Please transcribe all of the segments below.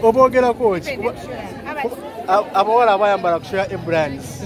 obogerako ki abawala abayambala kusoya ebrands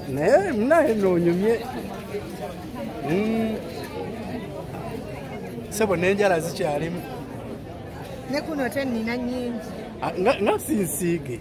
naye munaye nonyumye hmm. sebo nenjala zikyalimu nekuno te nina nyingi ah, nga sinsiige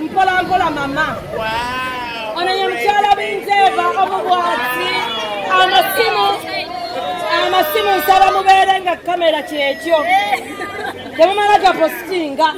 mpola mpola mama ono ye mukyala binzeeva omubwati amasimu amasimu nsaba mubeere nga kamera kyekyo temumala gapositinga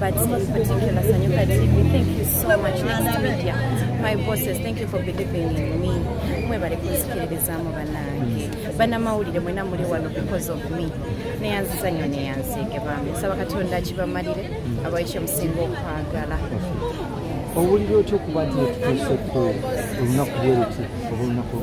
But in particular, Sanyuka TV, thank you so much, Next Media. My bosses, thank you for believing in me. Mwebale kunzikiririzaamu banange. Banamawulire mwena muli wano because of me. Neyanziza nnyo neyanziige bambi. Nsaba Katonda akibamalire abawa ekyo musinga okwagala. owulira otya okuba nti etutuuseko olunaku lweruti oba olunaku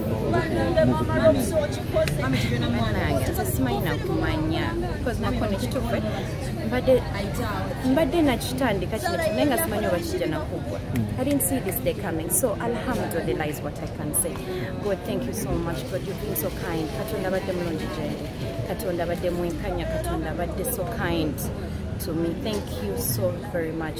mbadde nakitandika kino kinaye nga simanyi oba kijja nakugwa i didn't see this day coming so alhamdulillah is what i can say god thank you so much god you've been so kind katonda abadde mulungi gyendi katonda abadde mwenkanya katonda abadde so kind to me thank you so very much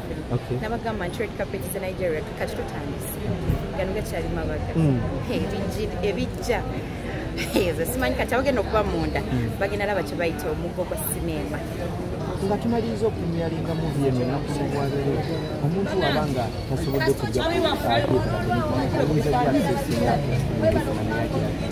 okay. nabagamba nti red carpet ze nigeria kati tutandise gano gakyali mabaga mm. ebijja ezo simanyi kati abagenda okuba munda mm. bagenda laba kyebayita omugo gwa sineema nga tumaliriza okunyeringa muvi eno enaku zobwabere omuntu waba nga tasobodde kujja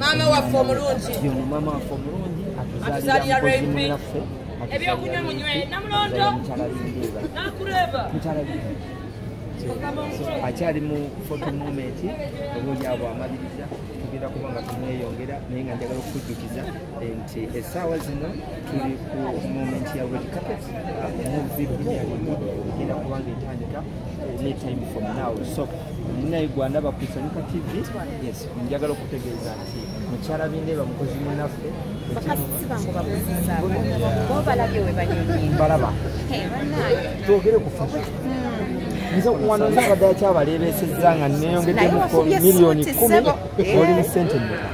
maama waffe omulungi atuzalira raype ebyokunywa munywe namulondo nakureba akyali mu foto moment oba olyabwe amaliriza tugenda kuba nga tumweyongera naye nga njagala okukujjukiza nti essaawa zino tuli ku moment ya red carpet muvi bunyalima egenda kubanga etandika any time from now so naye gwanda bakusanika tv yes njagala okutegeeza nti mukyala binde bamukozi munaffe balaba twogere ku fashion hmm. nze wano nzabadde akyabaleebeesezza nga neyongedde mu miliyoni kumi oli mu sente meka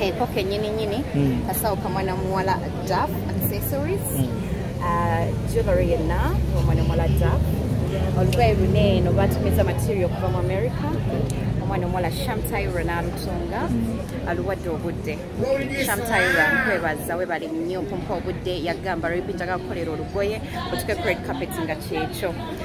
Eko kenyini nyini, mm. kasawo kamwana muwala Duff accessories, mm. uh, jewelry yenna omwana muwala Duff. Olugoye lune no batumiza material kuva mu America. Omwana omuwala Shamtaira n'alutunga mm. aluwadde obudde. Shamtaira nkwebaza webale nnyo kumpa obudde yagamba lwepi njaga kukolera olugoye otuke ku red carpet nga kyekyo.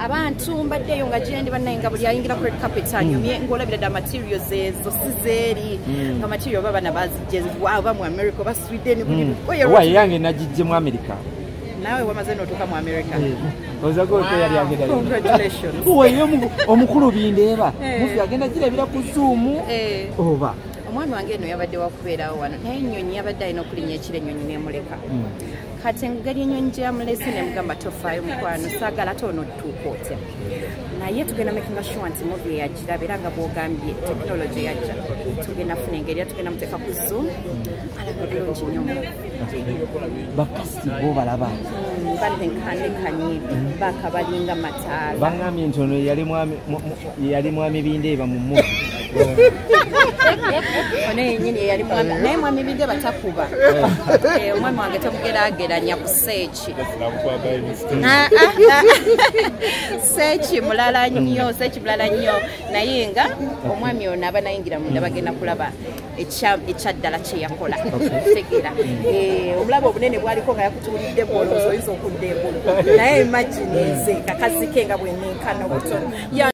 abantu mbaddeyo nga gyendi bannaye nga buli ayingira ku red carpet anyumye mm. ng'olabira dda material zezo si zeeri mm. nga material oba bana bazijje oba mu america oba sweden buli mm. owa yange nagijje mu america nawe wamaze notuka mu america eh, ozaga ote yali agenda congratulations oyo omukulu bindeeba eh. mufi agenda girabira ku zoom eh. oba omwana wange eno yabadde wakubeerawo wano naye ennyonyi yabadde alina okulinya ekiro ennyonyi nemuleka kati engeri enyonyi gyeyamulese nemugamba tofaayo mukwano saagala ate ono tutuuka otya naye tugenda makinga sure nti movi eyagiraba era nga bwogambye tekinologi yajja tugenda funa engeri era tugenda muteeka ku zoom alaba bulungi nyo bakasiti bo balaba mm, balenkanekanye bakabalinga mataala bangambye nti ono yali mwami yali mwami bindeeba mu mu naye mwami bindeeba takuba eh. Eh, omwami wange temugerageranya ku seeki ah, ah, ah. seeki mulala nnyo seeki mulala nnyo naye nga omwami ono aba nayingira munda bagenda kulaba ekyaddala kyeyakola tegera eh, obulabe obunene bwaliko nga yakutuulidde bwolooza oyinza okudda engulu naye imagine nze kakazike nga bwenenkana obutono